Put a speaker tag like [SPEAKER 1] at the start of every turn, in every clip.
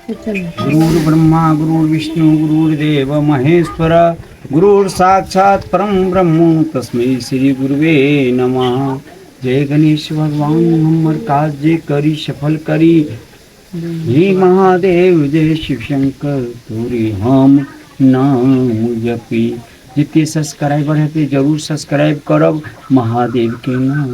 [SPEAKER 1] गुरुर् ब्रह्मा गुरुर्विष्णु गुरुर्देव महेश्वर गुरुर् साक्षात परम ब्रह्म तस्मै श्री गुरुवे नमः जय गणेश भगवान हमर काज जे करी सफल करी हे महादेव जय शिव शंकर तोरे हम नाम जपी जते सब्सक्राइबर हेतै जरूर सब्सक्राइब करब महादेवके नाम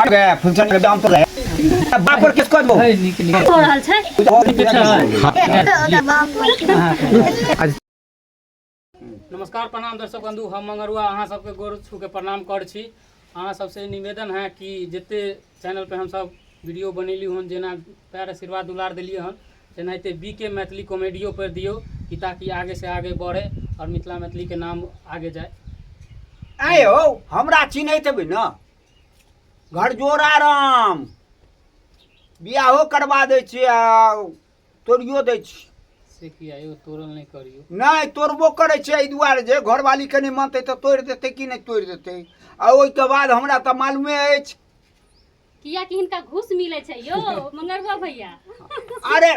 [SPEAKER 1] अरे फंक्शन के दाम तो रहे बाप पर केस कर दो हो
[SPEAKER 2] रहल
[SPEAKER 3] छै नमस्कार प्रणाम दर्शक बंधु हम मंगरुआ अहाँ सबके गोर छू के प्रणाम कर छी अहाँ सबसे निवेदन है कि जते चैनल पे हम सब वीडियो बनेली हन जेना प्यार आशीर्वाद दुलार देलिए हन तेनाहिते बी के मैथिली कॉमेडियो पर दियौ कि ताकि आगे से आगे बढ़े और मिथिला मैथिली के नाम आगे जाए आए हो
[SPEAKER 1] हमरा चिन्हैत हेबै ने घरजोड़ा राम बियाहो करबा दै छी आ तोड़ियो दै छी से कि आयो
[SPEAKER 3] तोड़ल नहीं करियो नहि तोड़बो
[SPEAKER 1] करै छै एहि दुआरे जे घरवाली कनि मानतै तऽ तोड़ि देतै कि नहि तोड़ि देतै आ ओहिके बाद हमरा तऽ मालूमे अछि किया
[SPEAKER 2] कि हिनका घूस मिले छै यो मंगरुआ भैया
[SPEAKER 1] अरे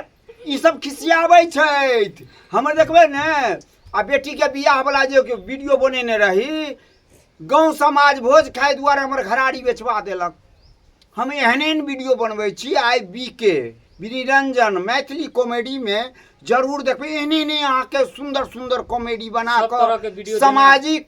[SPEAKER 1] ई सब खिसियाबै छथि हमर देखबै ने आ बेटीके बियाह वाला जे वीडियो बनेने रही गांव समाज भोज खाय दुआरे हमर घराड़ी बेचवा देलक हम एहन एहन वीडियो बनबै छी आई बी के निरंजन मैथिली कॉमेडी में जरूर देखबै एहने एहने अहाँके सुंदर सुंदर कॉमेडी बना सब तरह के कऽ video सामाजिक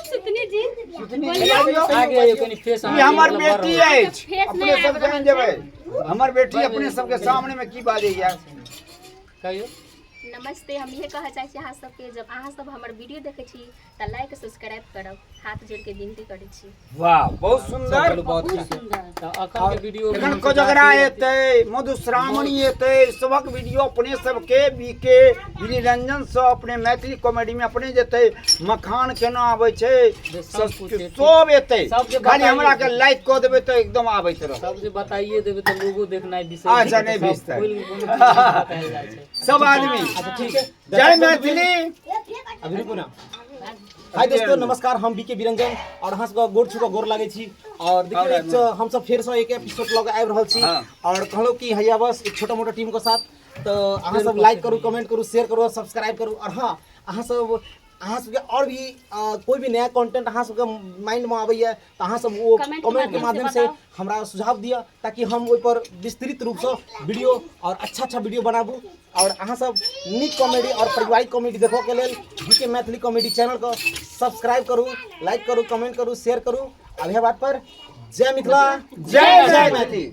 [SPEAKER 2] सुतनी जी
[SPEAKER 3] ई हमर बेटी
[SPEAKER 1] अछि फेस अपने नहि सब जान जेबै हमर बेटी अपने सबके सामने में की बाजैया कहियो नमस्ते
[SPEAKER 4] हम इहे कहऽ चाहै छी अहाँ सबके जब अहाँ सब हमर वीडियो देखै छी तऽ लाइक सब्सक्राइब करब हाथ जोड़ के विनती करै छी वाह बहुत
[SPEAKER 1] सुन्दर बहुत सुन्दर
[SPEAKER 2] वीडियो
[SPEAKER 3] एखन कोजगरा एतै मधुश्रावणी
[SPEAKER 1] एतै सबक वीडियो अपने सबके बीके निरंजन से अपने मैथिली कॉमेडी में अपने जेतै मखान केना आबै छै
[SPEAKER 3] सब एतै
[SPEAKER 1] खाली हमरा के
[SPEAKER 3] लाइक क
[SPEAKER 1] देबै
[SPEAKER 3] त
[SPEAKER 1] एकदम आबैत रहत सब जे बताइए देबै
[SPEAKER 3] त लोगो देखनाइ बिसरि अच्छा नै बिसतै सब आदमी अच्छा ठीक
[SPEAKER 1] है जय
[SPEAKER 5] मैथिली अभी रुकू ना हाय दोस्तों नमस्कार हम बीके बिरंजन और अहाँ सबके गोर छुके गोर लागै छी और देखिए एक तो हम सब फिर से एक एपिसोड लग आबि रहल छी और कहलो कि हैया बस एक छोटा मोटा टीम के साथ तो अहाँ सब लाइक करू कमेंट करू शेयर करू और सब्सक्राइब करू और हाँ अहाँ सब अहाँ सबके और भी अ, कोई भी नया कंटेंट अहाँ सबके माइंड में आबैया तऽ अहाँ सब ओ Comment के कमेंट के माध्यम माध्यम से से बताउ। हमरा सुझाव दिअ ताकि हम ओहि पर विस्तृत रूप से वीडियो और अच्छा अच्छा वीडियो बनाबू और अहाँ सब नीक कॉमेडी और पारिवारिक कॉमेडी देखो के लेल जीके मैथिली कॉमेडी चैनल को सब्सक्राइब करू लाइक करू कमेंट करू शेयर करू
[SPEAKER 1] अब
[SPEAKER 5] यह बात पर जय मिथिला जय मैथिली